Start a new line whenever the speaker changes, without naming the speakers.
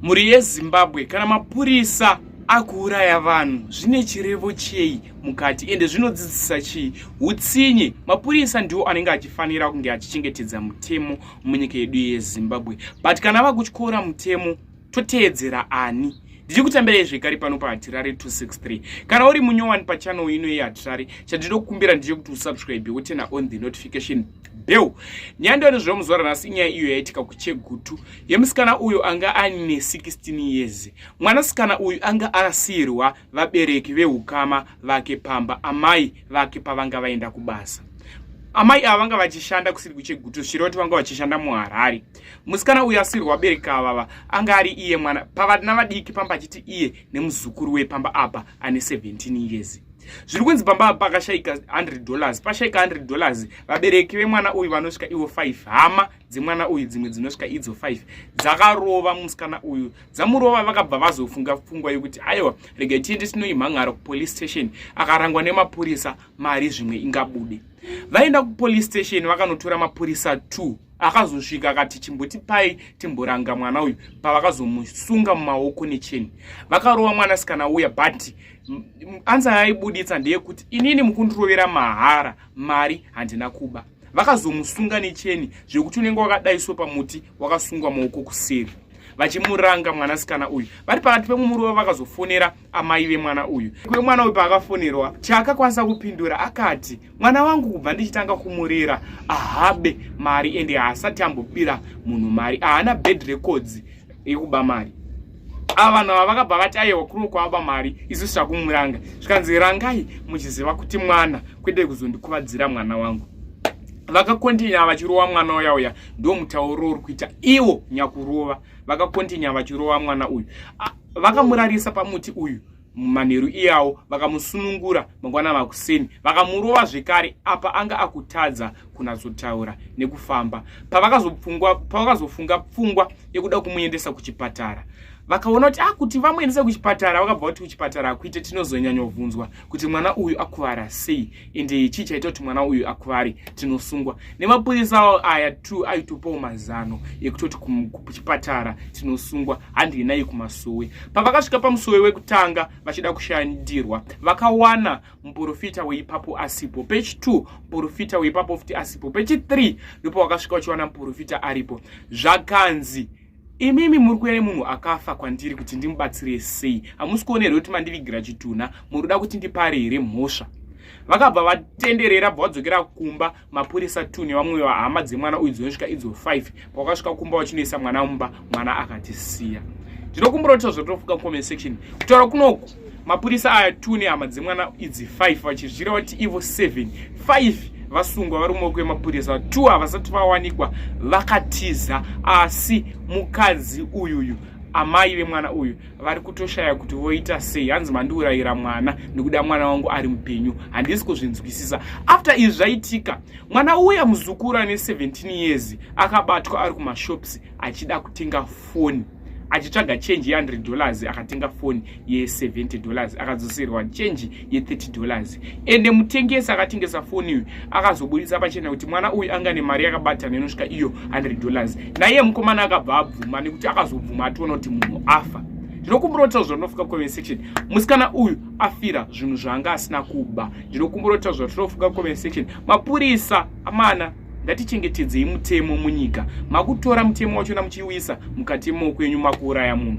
Mhuri yeZimbabwe kana mapurisa akuuraya vanhu zvine chirevo chei mukati ende zvinodzidzisa chii utsinye mapurisa ndiwo anenge achifanira kunge achichengetedza mutemo munyika yedu yezimbabwe but kana vakutyora mutemo toteedzera ani ndichikutambirai zvekare pano pahatirari 263 kana uri munyowani pachanel ino yehatirari chandinokumbira ndechekuti usubscribe wotena on the notification bell nyandano zvemuzuva ranhasi inyaya iyo yaitika kuchegutu yemusikana uyu anga aine 16 years mwanasikana uyu anga arasirwa vabereki veukama vake pamba amai vake pavanga vaenda kubasa amai ava vanga vachishanda kusiri kuchegutu zviroti vanga vachishanda muharare musikana uyu asirwa vabereki avava anga ari iye mwana pavana vadiki pamba achiti iye nemuzukuru wepamba apa ane 17 years zviri kunzi pamba pakashaika 100 dollars pashaika 100 dollars vabereki vemwana uyu vanosvika ivo 5 hama dzemwana uyu dzimwe dzinosvika idzo five dzakarova musikana uyu dzamurova vakabva vazofunga pfungwa yokuti aiwa rega tiende tinoimhan'ara kupolice station akarangwa nemapurisa mari zvimwe ingabude vaenda kupolice station vakanotora mapurisa two akazosvika akati chimbotipai timboranga mwana uyu pavakazomusunga mumaoko necheni vakarova mwanasikana uya but ansa yaibuditsa ndeyekuti inini mukundirovera mahara mari handina kuba vakazomusunga necheni zvekuti unenge wakadaiswa pamuti wakasungwa maoko kuseri vachimuranga mwanasikana uyu vari pakati pemwe muruva vakazofonera amai vemwana uyu kwe mwana uyu paakafonerwa chaakakwanisa kupindura akati mwana wangu kubva ndichitanga kumurera ahabe mari ende haasati ambobira munhu mari ahana bad records yekuba mari ava vanhu ava vakabva vati ayewa kuno kwavaba mari isu zvichakumuranga zvikanzi rangai muchiziva kuti mwana kwede kuzondikuvadzira mwana wangu vakakontinya vachirova mwana uya uya ndo mutauro uri kuita iwo nyakurova vakakontinya vachirova mwana uyu vakamurarisa pamuti uyu manheru iyawo vakamusunungura mangwana makuseni vakamurova zvekare apa anga akutadza kunatsotaura nekufamba pavakazofunga pfungwa yekuda kumuendesa kuchipatara vakaona kuti akuti ah, vamuendesa kuchipatara vakabva kuti kuchipatara akuite tinozonyanyovhunzwa kuti mwana uyu akuvara sei ende chii chaita kuti mwana uyu akuvare tinosungwa nemapurisa awo aya t aitopawo mazano ekutoti kuchipatara tinosungwa handi inai kumasowe pavakasvika pamusowe wekutanga vachida kushandirwa vakawana muporofita weipapo asipo pechi t muporofita weipapo futi asipo pechi 3 ndipo wakasvika uchiwana muporofita aripo zvakanzi imimi muri kuve nemunhu akafa kwandiri kuti ndimubatsire sei hamusi kuona here kuti mandivigira chitunha muri kuda kuti ndipare here mhosva vakabva vatenderera bva vadzokera kumba mapurisa two nevamwe vahama dzemwana uyu dzinosvika idzo five pavakasvika kumba vachinoisa mwana mumba mwana akatisiya ndinokumbira kuti tazvotofuka comment section kutaura kunoku mapurisa aya two nehama dzemwana idzi 5 vachizvira vati ivo 7 5 vasungwa vari mumaoko emapurisa two havasati vawanikwa vakatiza asi mukadzi uyuyu amai vemwana uyu vari kutoshaya kuti voita sei hanzi mandiurayira mwana nekuda mwana wangu ari mupenyu handisi kuzvinzwisisa after izvi zvaitika mwana uya muzukuru ane 17 years akabatwa ari kumashops achida kutenga foni achitsvaga chenji ye100 dollars akatenga foni ye70 dollars akadzoserwa chenji ye30 dollars ende mutengesi akatengesa foni uyu akazobudisa pachena kuti mwana uyu anga nemari yakabatana inosvika iyo 100 dollars naiye mukomana akabva abvuma nekuti akazobvuma ationa kuti munhu afa ndinokumburotawo zvatinofunga comment section musikana uyu afira zvinhu zvaanga asina kuba ndinokumburotawo zvatinofunga comment section mapurisa amana ngatichengetedzei mutemo munyika makutora mutemo wachona muchiuisa mukati moupenyu makuuraya munhu